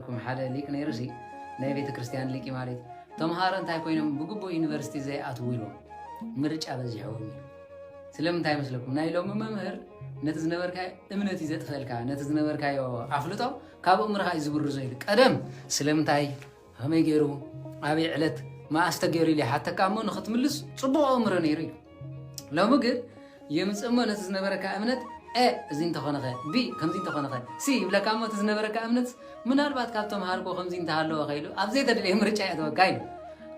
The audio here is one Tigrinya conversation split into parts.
ኩም ሓደ ሊቅ ነይሩሲ ናይ ቤተክርስትያን ሊቂ ማለት እዩ። ተምሃሮ እንታይ ኮይኖም ብግቡእ ዩኒቨርሲቲ ዘይኣትዉ ኢሎም ምርጫ በዚሕዎም እዩ። ስለምንታይ መስለኩም? ናይ ሎሚ መምህር ነቲ ዝነበርካዮ እምነት እዩ ዘጥፈእልካ፣ ነቲ ዝነበርካዮ ኣፍልጦ ካብ እምርኻ እዩ ዝብርዞ ኢሉ። ቀደም ስለምንታይ ከመይ ገይሩ ኣበይ ዕለት መኣስ ተገይሩ ኢሉ ይሓተካ እሞ ንክትምልስ ፅቡቕ ኣእምሮ ነይሩ እዩ። ሎሚ ግን የምፅእ እሞ ነቲ ዝነበረካ እምነት ኤ እዚ እንተኾነኸ ቢ ከምዚ እንተኾነኸ ሲ ይብለካ እሞ እቲ ዝነበረካ እምነት ምናልባት ካብ ተምሃርኮ ከምዚ እንተሃለወ ከኢሉ ኣብ ዘይተደለየ ምርጫ የእተወካ ኢሉ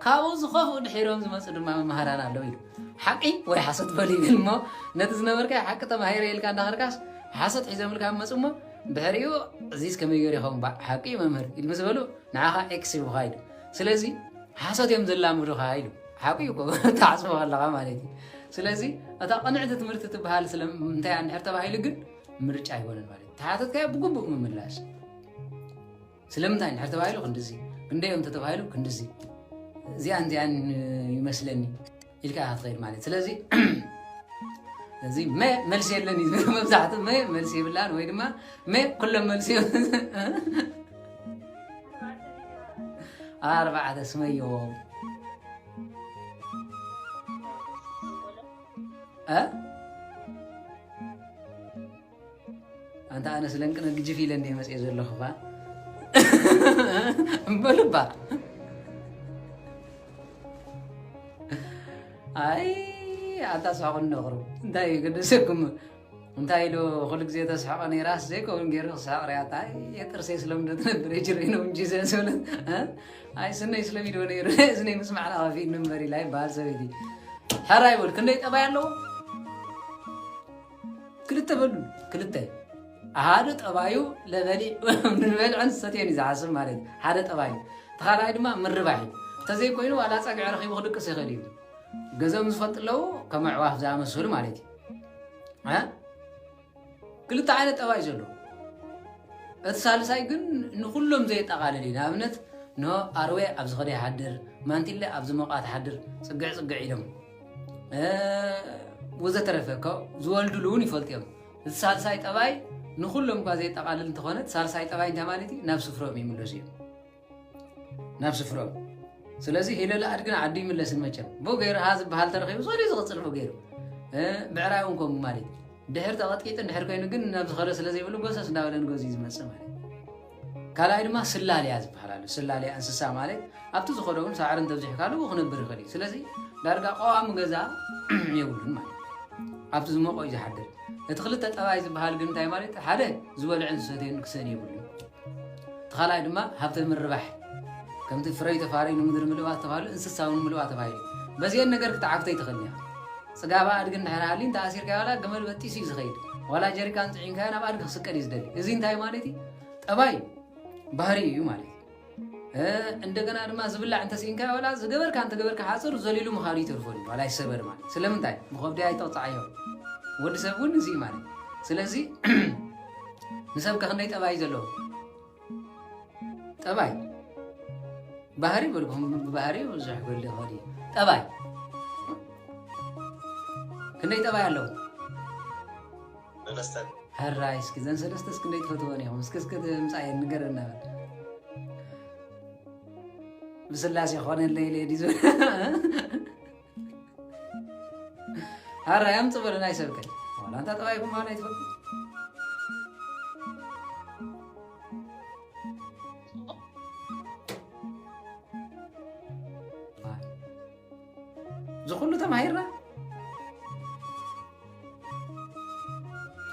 ካብኡ ዝኸፍኡ ድሒሮም ዝመፁ ድማ መምሃራን ኣለዉ ኢሉ ሓቂ ወይ ሓሶት በሉ ይብል እሞ ነቲ ዝነበርካ ሓቂ ተማሂረ ኢልካ እንዳኸርካስ ሓሶት ሒዘምልካ መፁ እሞ ድሕሪኡ እዚስ ከመይ ገይሩ ይኸውን ባ ሓቂ መምህር ኢሉ ምስ በሉ ንዓኻ ኤክስ ይብኻ ኢሉ ስለዚ ሓሶት እዮም ዘላምዱኻ ኢሉ ሓቂ እዩ ተዓፅቦ ኣለካ ማለት እዩ ስለዚ እታ ቅንዕቲ ትምህርቲ ትበሃል ስለምንታይ እንድሕር ተባሂሉ ግን ምርጫ ኣይኮነን ማለት እዩ ተሓተትካዮ ብግቡእ ምምላሽ ስለምንታይ እንድሕር ተባሂሉ ክንድዚ ክንደይ እዮም ተተባሂሉ ክንድዚ እዚኣን እዚኣን ይመስለኒ ኢልካ ኢካ ትኸይድ ማለት እዩ ስለዚ እዚ መ መልሲ የለን እዩ መብዛሕትኡ መ መልሲ ይብላን ወይ ድማ መ ኩሎም መልሲ ኣርባዕተ ስመይዎም ኣንታ ኣነ ስለንቅነ ግጅፍ ኢለ እንደ መፅኦ ዘለኹ ባ እምበልባ ኣይ ኣታ ሳኹን ነቕሩ እንታይ እዩ ገደሰኩም እንታይ ዶ ኩሉ ግዜ ተስሕቆ ነይራስ ዘይከውን ገይሩ ክስሕቅ ሪኣታ ኣይ ጥርሰይ ስለምዶ ትነብር ጅረይ ነው እንጂ ዘዝብለት ኣይ ስነይ ስለሚዶ ነይሩ እዝነይ ምስ ማዕላ ከፊ ንበር ኢላ ይበሃል ሰበይቲ ሕራ ይበል ክንደይ ጠባይ ኣለዎ ክልተ በሉ ክልተ ሓደ ጠባዩ ንበልዐን ዝሰትዮን እዩ ዝሓስብ ማለት እዩ ሓደ ጠባዩ ተኻልኣይ ድማ ምርባሕ እዩ እንተዘይኮይኑ ዋላ ፀግዒ ረኪቡ ክድቅስ ይኽእል እዩ ገዘኦም ዝፈልጡ ኣለዉ ከም ኣዕዋፍ ዝኣመሰሉ ማለት እዩ ክልተ ዓይነት ጠባይ ዘሎ እቲ ሳልሳይ ግን ንኩሎም ዘየጠቓልል እዩ ንኣብነት ን ኣርዌ ኣብ ዝኸደ ይሓድር ማንቲለ ኣብ ዝሞቃ ትሓድር ፅግዕ ፅግዕ ኢሎም ወዘተረፈ ዝወልድሉ እውን ይፈልጡ እዮም እዚ ሳልሳይ ጠባይ ንኩሎም እኳ ዘየጠቓልል እንተኾነ ሳልሳይ ጠባይ እንታይ ማለት እዩ ናብ ስፍሮም ይምለሱ እዮም ናብ ስፍረኡ ስለዚ ኢለላ ኣድግን ዓዱ ይምለስን መቸም ቦገይርሃ ዝበሃል ተረኪቡ ሰሪ ዝቕፅል ቦገይሩ ብዕራይ እውን ከምኡ ማለት እዩ ድሕር ተቐጥቂጥን ድሕር ኮይኑ ግን ናብ ዝኸደ ስለ ዘይብሉ ጎሰስ እንዳበለ ንገዙ እዩ ዝመፅእ ማለት ካልኣይ ድማ ስላልያ ዝበሃል ኣሎ ስላልያ እንስሳ ማለት ኣብቲ ዝኸደ እውን ሳዕሪ እንተብዚሕካሉ ክነብር ይኽእል እዩ ስለዚ ዳርጋ ቀዋሚ ገዛ የብሉን ማለት ኣብቲ ዝመቆ እዩ ዝሓድር እቲ ክልተ ጠባይ ዝበሃል ግን እንታይ ማለት ሓደ ዝበልዕን ዝሰትየን ክሰን የብሉ እቲ ካልኣይ ድማ ሃብተ ምርባሕ ከምቲ ፍረይ ተፋረይ ንምድሪ ምልእዋ ዝተባህሉ እንስሳዊ ንምልእዋ ተባሂሉ በዚኤን ነገር ክትዓግቶ ይትኽእል እያ ፅጋባ ኣድጊ እንድሕር ሃሊ እንተ ኣሲርካዮ ዋላ ገመል በጢሱ እዩ ዝኸይድ ዋላ ጀሪካን ፅዒንካዮ ናብ ኣድጊ ክስቀል እዩ ዝደሊ እዚ እንታይ ማለት እዩ ጠባይ ባህሪ እዩ ማለት እዩ እንደገና ድማ ዝብላዕ እንተስኢንካዮ ዋላ ዝገበርካ እንተገበርካ ሓፅር ዘሊሉ ምኻዱ ይተርፈሉ ዋላ ይሰበር ማለት ስለምንታይ ብከብዲ ኣይተቕፃዓዮ ወዲ ሰብ እውን እዚ ማለት ስለዚ ንሰብ ከ ክንደይ ጠባይ እዩ ዘለዎ ጠባይ ባህሪ በልኩም ብባህሪ ብዙሕ ክህሊ ይኽእል እዩ ጠባይ ክንደይ ጠባይ ኣለዎ ሰለስተ ሕራይ እስኪ ዘን ሰለስተ እስኪ ክንደይ ትፈትወን ኢኹም እስኪ እስኪ ምፃየን ንገረና በል ብስላሴ ኮነለይ ለዲ ዝብል ኧረ ያምጡ በለን አይሰብከኝ ዋላ አንተ ጠባይ ጉማን አይትፈል ዝኩሉ ተማሂርና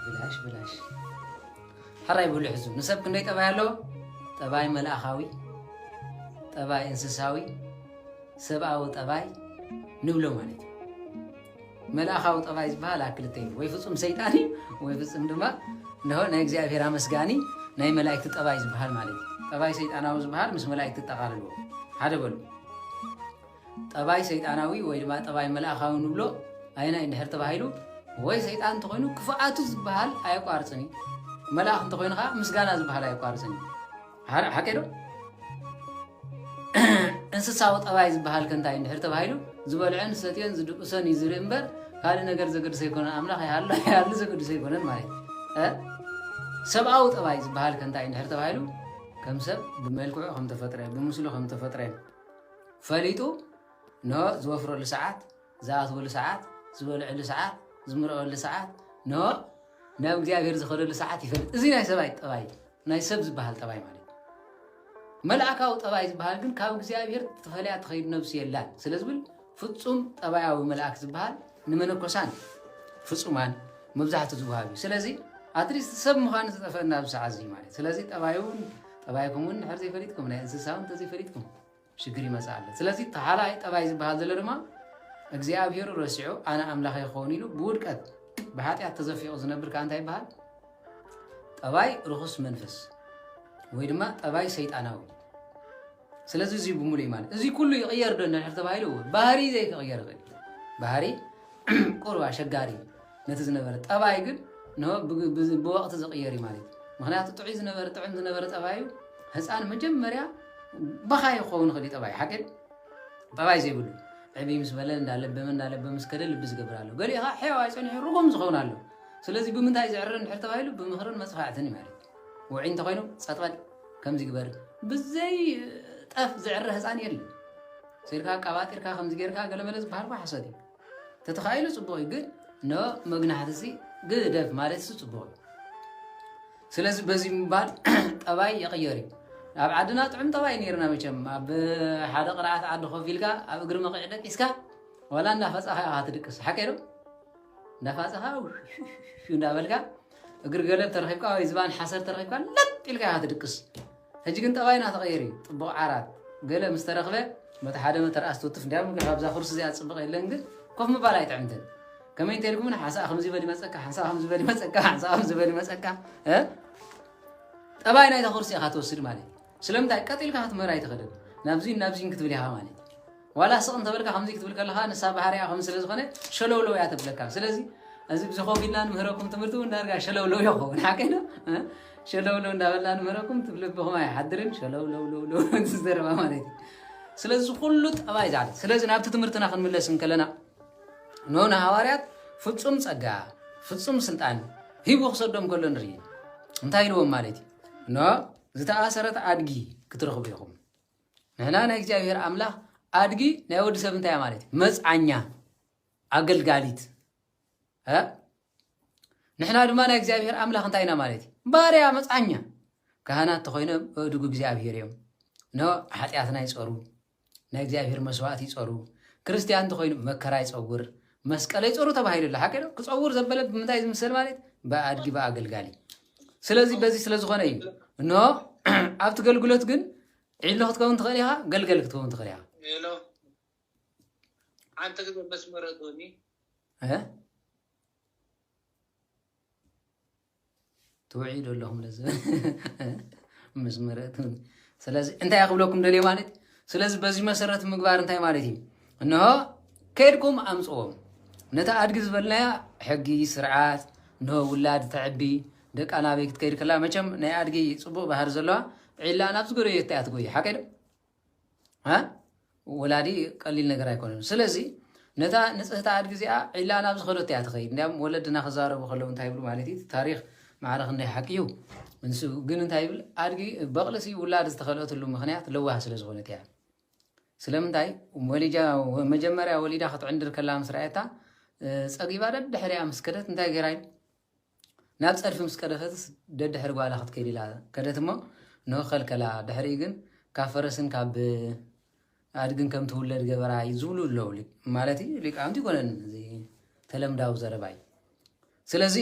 ብላሽ ብላሽ ሕራይ ብሉ ሕዙ ንሰብ ክንደይ ጠባይ ኣለዎ ጠባይ መልኣኻዊ ጠባይ እንስሳዊ ሰብኣዊ ጠባይ ንብሎ ማለት እዩ። መልኣኻዊ ጠባይ ዝበሃል ኣብ ክልተ እዩ፣ ወይ ፍፁም ሰይጣን እዩ፣ ወይ ፍፁም ድማ እንሆ ናይ እግዚኣብሔር ኣመስጋኒ ናይ መላእክቲ ጠባይ ዝበሃል ማለት እዩ። ጠባይ ሰይጣናዊ ዝበሃል ምስ መላእክቲ ጠቓልልዎ ሓደ በሉ። ጠባይ ሰይጣናዊ ወይ ድማ ጠባይ መልኣኻዊ ንብሎ ኣየናይ እንድሕር ተባሂሉ ወይ ሰይጣን እንተኾይኑ ክፍኣቱ ዝበሃል ኣየቋርፅን እዩ። መልኣኽ እንተኾይኑ ከዓ ምስጋና ዝበሃል ኣየቋርፅን እዩ። ሓቂ ዶ እንስሳዊ ጠባይ ዝበሃል ከንታይ እንድሕር ተባሂሉ ዝበልዐን ዝሰትዮን ዝድቅሶን እዩ ዝርኢ እምበር ካልእ ነገር ዘገድሶ ኣይኮነን ኣምላኽ ይሃሉ ይሃሉ ዘገድሶ ኣይኮነን ማለት እዩ ሰብኣዊ ጠባይ ዝበሃል ከንታይ እንድሕር ተባሂሉ ከም ሰብ ብመልክዑ ከም ተፈጥረ ብምስሉ ከም ተፈጥረ ፈሊጡ ን ዝወፍረሉ ሰዓት ዝኣትወሉ ሰዓት፣ ዝበልዐሉ ሰዓት፣ ዝምርዐወሉ ሰዓት፣ ን ናብ እግዚኣብሔር ዝኸደሉ ሰዓት ይፈልጥ። እዚ ናይ ሰብኣይ ጠባይ እዩ። ናይ ሰብ ዝበሃል ጠባይ ማለት እዩ። መልኣካዊ ጠባይ ዝበሃል ግን ካብ እግዚኣብሔር ተፈልያ ትኸይድ ነብሱ የላን ስለ ዝብል ፍጹም ጠባያዊ መልኣክ ዝበሃል ንመነኮሳን ፍጹማን መብዛሕቱ ዝወሃብ እዩ። ስለዚ ኣትሊስት ሰብ ምዃኑ ዝጠፈና ኣብዚ ሰዓት እዚ ማለት ስለዚ ጠባዩን ጠባይኩም እውን ንሕር ዘይፈሊጥኩም ናይ እንስሳውን ተዘይፈሊጥኩም ሽግር ይመጽእ ኣሎ ስለዚ እቲ ኻልኣይ ጠባይ ዝበሃል ዘሎ ድማ እግዚኣብሄሩ ረሲዑ ኣነ ኣምላኸ ይኸውን ኢሉ ብውድቀት ብሓጢኣት ተዘፊቑ ዝነብር ከዓ እንታይ ይበሃል ጠባይ ርኹስ መንፈስ ወይ ድማ ጠባይ ሰይጣናዊ ስለዚ እዚ ብምሉ እዩ ማለት እዚ ኩሉ ይቕየር ዶ እንድሕር ተባሂሉ ባህሪ ዘይክቕየር ይኽእል ባህሪ ቁርብ ኣሸጋሪ እዩ ነቲ ዝነበረ ጠባይ ግን ብወቕቲ ዝቕየር እዩ ማለት እዩ ምክንያቱ ጥዑይ ዝነበረ ጥዑም ዝነበረ ጠባዩ ህፃን መጀመርያ በኻይ ክኸውን ይኽእል እዩ ጠባይ ሓቂ ጠባይ ዘይብሉ ዕብ ምስ በለ እንዳለበመ እንዳለበመ ምስ ከደ ልቢ ዝገብር ኣሎ ገሊኡ ከዓ ሕያዋይ ፀኒሑ ርጉም ዝኸውን ኣሎ ስለዚ ብምንታይ ዝዕረ ንድሕር ተባሂሉ ብምኽርን መፅፋዕትን እዩ ማለት እዩ ውዒ እንተኮይኑ ፀጥበል ከምዚ ግበር ብዘይ ጠፍ ዝዕረ ህፃን የለን ስኢልካ ኣቃባጢርካ ከምዚ ጌርካ ገለመለ ዝበሃል ኳ ሓሶት እዩ ተተኻኢሉ ፅቡቕ እዩ ግን ን መግናሕቲ ሲ ግደፍ ማለት ሲ ፅቡቕ እዩ ስለዚ በዚ ምባል ጠባይ ይቕየር እዩ ኣብ ዓድና ጥዑም ጠባይ ነይርና መቸም ኣብ ሓደ ቅርዓት ዓዲ ኮፍ ኢልካ ኣብ እግሪ መቕዒ ደቂስካ ዋላ እንዳፈፃኻ ኢኻ ትድቅስ ሓቂ ዶ እንዳፋፀኻ እንዳበልካ እግሪ ገለብ ተረኪብካ ወይ ዝባን ሓሰር ተረኪብካ ለጥ ኢልካ ኢኻ ትድቅስ ሕጂ ግን ጠባይና ተቐይሩ እዩ ጥቡቕ ዓራት ገለ ምስ ተረኽበ በቲ ሓደ መተር ኣስትውትፍ እንድያ ምክንያቱ ኣብዛ ኩርሲ እዚኣ ጽብቕ የለን ግን ኮፍ ምባል ኣይጥዕምትን ከመይ እንተልኩም ን ሓንሳኣ ከምዚ በል ይመጸካ ሓንሳኣ ከምዚ በል ይመጸካ ሓንሳኣ ከምዚ በል ይመጸካ ጠባይ ናይታ ኩርሲ ኢኻ ትወስድ ማለት እዩ ስለምንታይ ቀጢልካ ክትምህር ኣይትኽእልን ናብዚ ናብዚ ክትብል ኢኻ ማለት እዩ ዋላ ስቕ እንተበልካ ከምዚ ክትብል ከለኻ ንሳ ባህሪኣ ከምዚ ስለ ዝኾነ ሸለውለው እያ ተብለካ ስለዚ እዚ ብዚ ኮፍ ኢልና ንምህረኩም ትምህርቲ እውን ዳርጋ ሸለውለው እዮ ኸውን ሓቀይ ዶ ሸለውለው እንዳበልና ንምህረኩም ትብ ልብኹም ኣይሓድርን ሸለውለውለውለው ዝዘረባ ማለት እዩ ስለዚ ኩሉ ጠባይ ዛዕለት ስለዚ ናብቲ ትምህርትና ክንምለስ እንከለና ኖ ንሃዋርያት ፍፁም ፀጋ ፍፁም ስልጣን ሂቡ ክሰዶም ከሎ ንርኢ እንታይ ኢልዎም ማለት እዩ ኖ ዝተኣሰረት ኣድጊ ክትረኽቡ ኢኹም ንሕና ናይ እግዚኣብሔር ኣምላኽ ኣድጊ ናይ ወዲ ሰብ እንታይ ማለት እዩ መፅዓኛ ኣገልጋሊት ንሕና ድማ ናይ እግዚኣብሔር ኣምላኽ እንታይ ኢና ማለት እዩ ባርያ መፅዓኛ ካህናት ተኮይነ በእድጉ እግዚኣብሔር እዮም ን ሓጢኣትና ይፀሩ ናይ እግዚኣብሔር መስዋእት ይፀሩ ክርስትያን ተኮይኑ መከራ ይፀውር መስቀለ ይፀሩ ተባሂሉ ኣሎ ሓቂ ክፀውር ዘበለ ብምንታይ ዝምሰል ማለት ብኣድጊ ብኣገልጋሊ ስለዚ በዚ ስለዝኾነ እዩ እኖ ኣብቲ ገልግሎት ግን ዒሎ ክትከውን ትኽእል ኢኻ፣ ገልገል ክትከውን ትኽእል ኢኻ። ዒሎ ሓንቲ ግዜ መስመረ ዶኒ ትውዒዱ ኣለኹም ነዚ ምስ መረእት ስለዚ እንታይ ክብለኩም ደልየ ማለት ስለዚ በዚ መሰረት ምግባር እንታይ ማለት እዩ እንሆ ከድኩም ኣምፅዎም ነቲ ኣድጊ ዝበልናያ ሕጊ ስርዓት እንሆ ውላድ ተዕቢ ደቃ ናበይ ክትከይድ ከላ መቸም ናይ ኣድጊ ጽቡቕ ባህሪ ዘለዋ ዒላ ናብ ዝጎረየታ እያ ትጎይ ሓቀይ ዶ ወላዲ ቀሊል ነገር ኣይኮነን ስለዚ ነታ ንጽህቲ ኣድጊ እዚኣ ዒላ ናብ ዝኸደት እያ ትኸይድ እንዲያም ወለድና ክዛረቡ ከለዉ እንታይ ይብሉ ማለት እዩ ታሪክ ማዕረ ክንደይ ሓቂ እዩ ንሱ ግን እንታይ ይብል ኣድጊ በቕልሲ ውላድ ዝተኸልአትሉ ምክንያት ለዋህ ስለ ዝኾነት እያ ስለምንታይ ወሊጃ መጀመርያ ወሊዳ ክትዕንድር ከላ ምስ ረኣየታ ጸጊባ ደድሕሪያ ምስ ከደት እንታይ ገይራ ናብ ጸድፊ ምስ ከደተትስ ደድሕሪ ጓላ ክትከይድ ኢላ ከደት እሞ ኖህ ከልከላ፣ ድሕሪኡ ግን ካብ ፈረስን ካብ ኣድግን ከም ትውለድ ገበራ ዝብሉ ኣለዉ። ማለት እዩ ሊቃውንቲ ይኮነን እዚ ተለምዳዊ ዘረባ እዩ። ስለዚ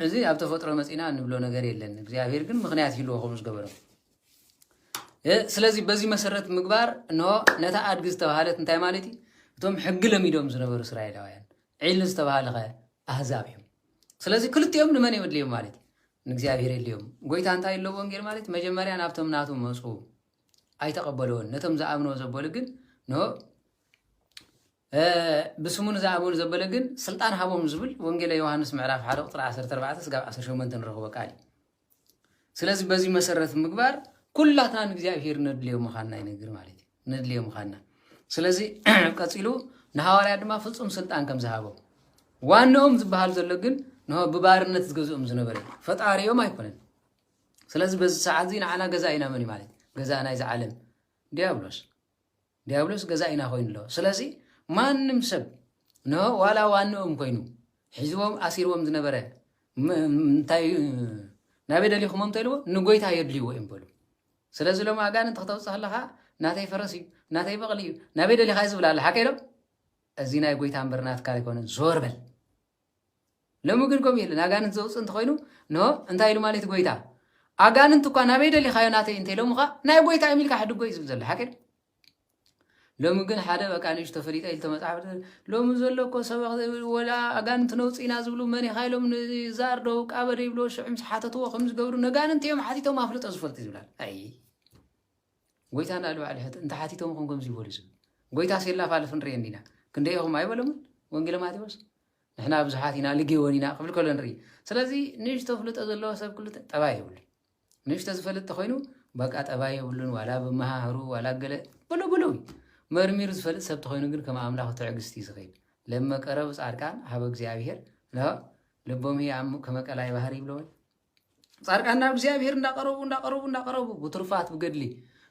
እዚ ኣብ ተፈጥሮ መፂና እንብሎ ነገር የለን። እግዚኣብሔር ግን ምክንያት ይህልዎ ከምኡ ዝገበረም ስለዚ በዚ መሰረት ምግባር እንሆ ነታ ኣድጊ ዝተባሃለት እንታይ ማለት እዩ እቶም ሕጊ ለሚዶም ዝነበሩ እስራኤላውያን ዒል ዝተባሃለ ከ ኣህዛብ እዮም ስለዚ ክልቲኦም ንመን እዮም ኣድልዮም ማለት እዩ? ንእግዚኣብሔር የድልዮም። ጐይታ እንታይ ኣሎ ወንጌል ማለት መጀመርያ ናብቶም ናቱ መጹ ኣይተቐበልዎን ነቶም ዝኣምንዎ ዘበሉ ግን ን ብስሙ ንዝኣመኑ ዘበለ ግን ስልጣን ሃቦም ዝብል ወንጌለ ዮሃንስ ምዕራፍ 1 ቁፅሪ 14 ስጋብ 18 ንረኽቦ ቃል እዩ። ስለዚ በዚ መሰረት ምግባር ኩላትና ንእግዚኣብሄር ነድልዮ ምዃንና ይነግር ማለት እዩ ነድልዮ ምዃንና ስለዚ ቀፂሉ ንሃዋርያ ድማ ፍፁም ስልጣን ከም ዝሃቦ ዋንኦም ዝበሃል ዘሎ ግን ንሆ ብባርነት ዝገዝኦም ዝነበረ ፈጣሪኦም ኣይኮነን ስለዚ በዚ ሰዓት እዚ ንዓና ገዛ ኢና መን ማለት ገዛ ናይዚ ዓለም ዲያብሎስ ዲያብሎስ ገዛኢና ኮይኑ ኣሎ። ስለዚ ማንም ሰብ ን ዋላ ዋንኦም ኮይኑ ሒዝዎም ኣሲርዎም ዝነበረ እንታይ ናበይ ደሊኹሞ እንተልዎ ንጎይታ የድልይዎ እዮም በሉ። ስለዚ ሎም ኣጋንንቲ ክተውፅእ ከለካ ናተይ ፈረስ እዩ ናተይ በቕሊ እዩ ናበይ ደሊኻ ዝብላ ኣለ ሓቀ ኢሎም እዚ ናይ ጎይታ እምበር ናትካ ኣይኮነን ዞር በል ሎሚ ግን ከምኡ የለን። ኣጋንንት ዘውጽእ እንተኾይኑ ን እንታይ ኢሉ ማለት ጎይታ ኣጋንንት እኳ ናበይ ደሊኻዮ ናተይ እንተኢሎምኻ ናይ ጎይታ እዮም ኢልካ ሕድጎ እዩ ዝብል ዘሎ ሓቂ ሎሚ ግን ሓደ በቃ ንእሽ ተፈሊጠ ኢልቶ መጽሓፍ ሎሚ ዘሎ እኮ ሰበኽ ወላ ኣጋንንቲ ነውፅና ዝብሉ መን ኢኻ ኢሎም ንዛርዶ ቃበደ ይብሎ ሽዑ ምስ ሓተትዎ ከም ዝገብሩ ነጋንንቲ እዮም ሓቲቶም ኣፍልጦ ዝፈልጡ ይብላል ኣይ ጎይታ ንላዕሊ ባዕሉ ሕት እንተ ሓቲቶም ኹም ከምዚ ይበሉ ዝብል ጎይታ ሲላፋልፍ ንርኢ እንዲና ክንደይ ኢኹም ኣይበሎምን ወንጌለ ማቴዎስ ንሕና ብዙሓት ኢና ልጌወን ኢና ክብል ከሎ ንርኢ ስለዚ ንእሽቶ ፍልጦ ዘለዎ ሰብ ክሉ ጠባይ የብሉ ንእሽቶ ዝፈልጥ ተኮይኑ በቃ ጠባይ የብሉን ዋላ ብመሃህሩ ዋላ ገለ ብሉ ብሉ መርሚሩ ዝፈልጥ ሰብ ተኮይኑ ግን ከም ኣምላኽ ትዕግስቲ ዝኽእል ለመቀረብ ጻድቃን ሃበ እግዚኣብሔር ልቦም ከመቀላይ ባህር ይብለወን ጻድቃን ናብ እግዚኣብሔር እንዳቀረቡ እንዳቀረቡ እንዳቀረቡ ብትሩፋት ብገድሊ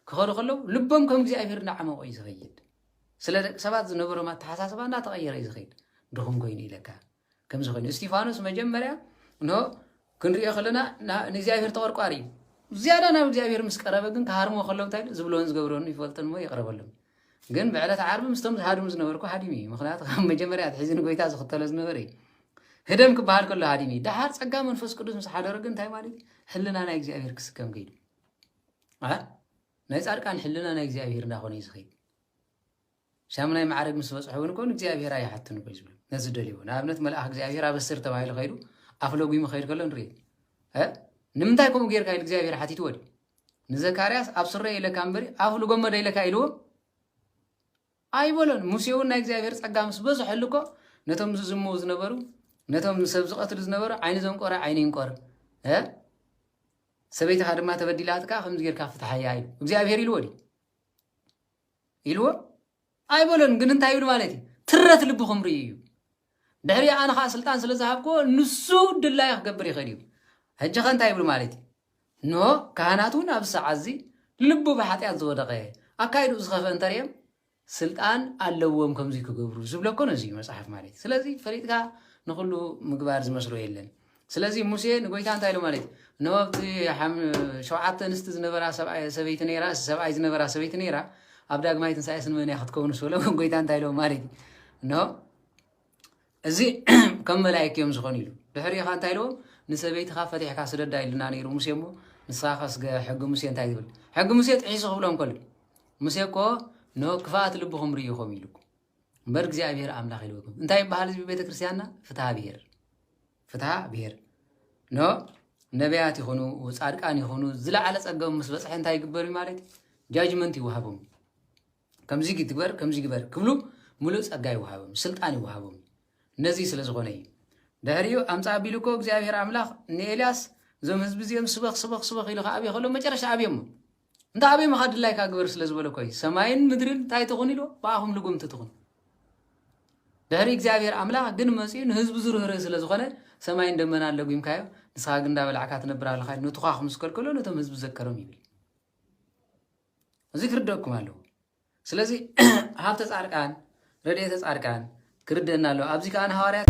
ክኸዱ ከለዉ ልቦም ከም እግዚኣብሔር እንዳዓመቆ እዩ ዝኸይድ ስለ ደቂ ሰባት ዝነበሮም ኣተሓሳስባ እንዳተቐየረ እዩ ዝኸይድ ድኹም ኮይኑ ኢለካ ከምዚ ኮይኑ እስጢፋኖስ መጀመርያ ኖ ክንሪኦ ከለና ንእግዚኣብሔር ተቆርቋሪ እዩ ዝያዳ ናብ እግዚኣብሔር ምስ ቀረበ ግን ክሃርሞ ከለዉ እንታይ ዝብሎን ዝገብሮን ይፈልጥን እሞ ይቕረበሎም ግን ብዕለት ዓርቢ ምስቶም ዝሃድሙ ዝነበርኩ ሃዲሙ እዩ ምክንያቱ ካብ መጀመርያ ኣትሒዙ ንጎይታ ዝኽተሎ ዝነበረ እዩ ህደም ክበሃል ከሎ ሃዲሙ እዩ ደሓር ጸጋ መንፈስ ቅዱስ ምስ ሓደሮ ግን እንታይ ማለት እዩ ሕልና ናይ እግዚኣብሄር ክስከም ከይዱ ናይ ጻድቃን ሕልና ናይ እግዚኣብሄር እንዳኾነ እዩ ዝኸይድ ሻምናይ ማዕረግ ምስ በፅሖ እውን ኮን እግዚኣብሄር ኣይሓትኑ ኮ ዝብሉ ነዚ ደልዎ ንኣብነት መልኣኽ እግዚኣብሄር ኣበስር ተባሂሉ ከይዱ ኣፍ ለጒሙ ከይድ ከሎ ንርኢ ንምንታይ ከምኡ ጌርካ ኢሉ እግዚኣብሄር ሓቲትዎ ድዩ ንዘካርያስ ኣብ ስረይ ኢለካ እምበሪ ኣፍ ልጎመ ዶ ኢለካ ኢልዎ ኣይበሎን ሙሴ እውን ናይ እግዚኣብሔር ጸጋ ምስ በዝሐሉ እኮ ነቶም ዝዝምዉ ዝነበሩ ነቶም ሰብ ዝቐትሉ ዝነበሩ ዓይኒ ዘንቆረ ዓይኒ ይንቆር እ ሰበይትኻ ድማ ተበዲላትካ ከምዚ ጌርካ ፍትሓያ እዩ እግዚኣብሔር ኢልዎ ድዩ ኢልዎ ኣይበሎን ግን እንታይ ይብል ማለት እዩ ትረት ልብኹም ርእዩ እዩ ድሕሪኡ ኣነ ከዓ ስልጣን ስለ ዝሃብክዎ ንሱ ድላዩ ክገብር ይኽእል እዩ ሕጂ ከ እንታይ ይብል ማለት እዩ እንሆ ካህናት እውን ኣብዚ ሰዓት እዚ ልቡ ብሓጢኣት ዝወደቐ ኣካይድኡ ዝኸፍአ እንተርየም ስልጣን ኣለዎም ከምዚ ክገብሩ ዝብለኮ ነዚ እዩ መጽሓፍ ማለት እዩ ስለዚ ፈሊጥካ ንኹሉ ምግባር ዝመስሎ የለን ስለዚ ሙሴ ንጎይታ እንታይ ኢሉ ማለት እዩ እነሆ ኣብቲ ሓም- ሸውዓተ ኣንስቲ ዝነበራ ሰብኣይ- ሰበይቲ ነይራ እስ- ሰብኣይ ዝነበራ ሰበይቲ ነይራ ኣብ ዳግማይ ትንሳኤ ስንመን እያ ክትከውን ስበሎ ጎይታ እንታይ ኢሎም ማለት እዩ እነሆ እዚ ከም መላእክት እዮም ዝኾኑ ኢሉ ድሕሪ ኢኻ እንታይ ኢልዎም ንሰበይትኻ ፈቲሕካ ስደዳ ኢልና ነይሩ ሙሴ እሞ ንስኻ ከስገ ሕጊ ሙሴ እንታይ ዝብል ሕጊ ሙሴ ጥሒሱ ክብሎም ከሎ ሙሴ እኮ ንኦ ክፍኣት ልብኹም ርኢኹም ኢሉ እምበር እግዚኣብሔር ኣምላክ ይልወኩም እንታይ ይበሃል ህዝቢ ቤተክርስትያንና ፍትሃ ብሔር ፍትሃ ብሔር ኖ ነቢያት ይኹኑ ፃድቃን ይኹኑ ዝለዓለ ፀገም ምስ በፅሐ እንታይ ይግበር እዩ ማለት ጃጅመንት ይወሃቦም ከምዚ ግበር ከምዚ ግበር ክብሉ ሙሉእ ፀጋ ይወሃቦም ስልጣን ይወሃቦም ነዚ ስለ ዝኾነ እዩ ድሕሪኡ ኣምፃ ኣቢሉ እኮ እግዚኣብሔር ኣምላኽ ንኤልያስ እዞም ህዝቢ እዚኦም ስበኽ ስበኽ ስበኽ ኢሉ ከኣብዮ ከሎ መጨረሻ ኣብዮሞ እንተ ኣበይ ምኻ ድላይካ ግበር ስለ ዝበለኮ እዩ ሰማይን ምድርን እንታይ ትኹን ኢሎ ብኣኹም ልጉምቲ ትኹን ድሕሪ እግዚኣብሔር ኣምላኽ ግን መፅኡ ንህዝቡ ዝርህርህ ስለ ዝኾነ ሰማይን ደመና ኣለጒምካዮ ንስኻ ግን እንዳበላዕካ ትነብር ኣለኻ ንቱኻኹ ምስ ከልከሎ ነቶም ህዝቢ ዘከሮም ይብል እዚ ክርደኩም ኣለዎ ስለዚ ሃብተ ፃርቃን ረድኤተ ፃርቃን ክርደና ኣለዎ ኣብዚ ከዓ ንሃዋርያት